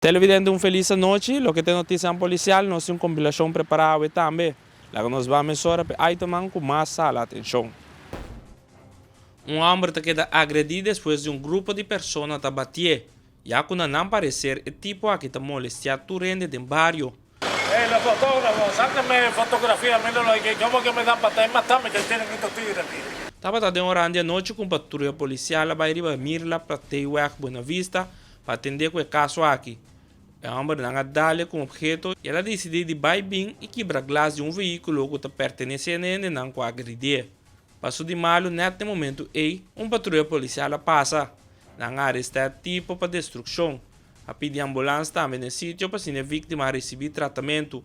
Televidente un felis anochi, loke ta e notisianan policial, nos tin un compilacion prepara awe tambe. Laga nos baha mesora pa e itemnan cu mas sala atencion. Un homber ta keda agredi despues di un grupo di persona ta batié, ya cu na nan parecer e tipo aki ta molestia tur hende den bario. Tabata den un oran di anochi ku un patruya polisial a bai riba Mirla Prateyweg Buenavista pa atendé ku e kaso aki. E hòmbernan a dale ku un opheto i el a disidí di bai bin i kibra glas di un vehíkulo ku ta pertenesé na e hendenan ku a agridíe. Paso di malu nèt na e momentu ei un patruya polisial a pasa. Nan a arestá e tipo pa destrukshon. a pidi ambulans tambe na e sitio pa asina e víktima a risibí tratamentu.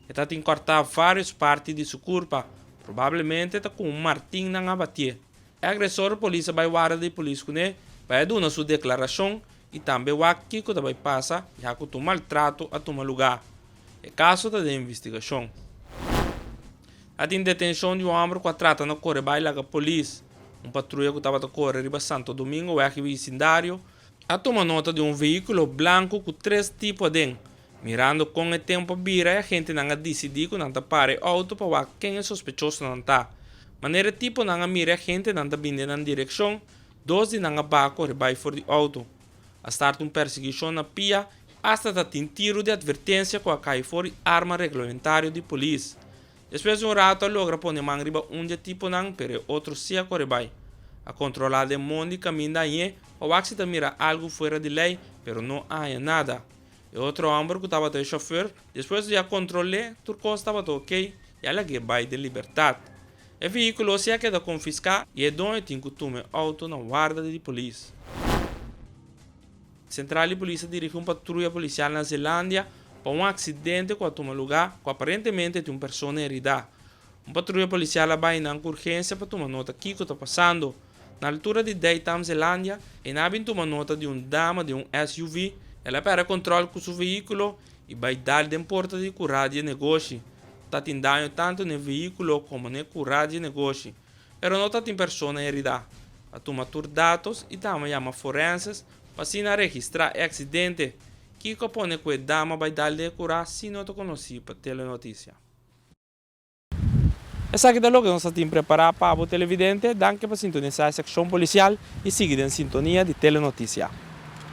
E ta tin kòrtá vários parti di su kurpa, probablemente ta ku un martin nan a batié. E agresor polis a bai wada di polis kuné pa e duna su deklarashon i tambe wak kiko ta bai pasa ya ku tur maltrato a tuma lugá. E kaso ta den investigashon. A tin detenshon di un hòmber ku a trata na kore bai laga polis, un patruya ku tabata kore riba Santo Domingo wèg i bisindario, A tuma nota di un vehiculo blanco cu tres tipo aden. Mirando con e tempo a bira e agentenan a dicidi cu nan ta para e auto pa wak ken e sospechosonan ta. Manera e tiponan a mira e agentenan ta bin den nan direccion, dos di nan a baco ribai for di auto. A starta un persecucion na pia hasta ta tin tiro di advertencia cu a cai for di arma reglamentario di polis. Despues di un ratu a logra pone man riba un di e tiponan, pero e otro si a core bai. A controla den mon di caminda añe pa wak si ta mira algo fuera di ley, pero no a haña nada. E otro homber cu tabata e chauffeur, despues di a control'e, tur cos tabata ok y a lag'e bai den libertad. E vehiculo si a keda confisca y e doño tin cu tuma e auto na warda di di polis. Sentral di Polis a dirigi un patruya polisial na Zelandia pa un aksidente ku a tuma lugá ku aparentemente tin un persona heridá. Un patruya polisial a bai nan ku urgensia pa tuma nota kiko ta pasando. Na altura di Daytam, Zelandia, ena a bin tuma nota di un dama den un SUV. El a pèrdè kòntròl ku su veíkulo i bai dal den porta di kurá di e negoshi. Ta tin daño tantu n'e veíkulo komo n'e kurá di e negoshi. Pero no ta tin persona heridá. A tuma tur datos y ta ama yama forenses pa asina registrá e accidente. Kiko a pone cu e dama bay dal di e curá sin no ta conocí pa Telenoticia? Esaki ta loke nos a tin prepará pa bo televidente. Danki pa sintonisá e seccion policial y sigui den sintonia di Telenoticia.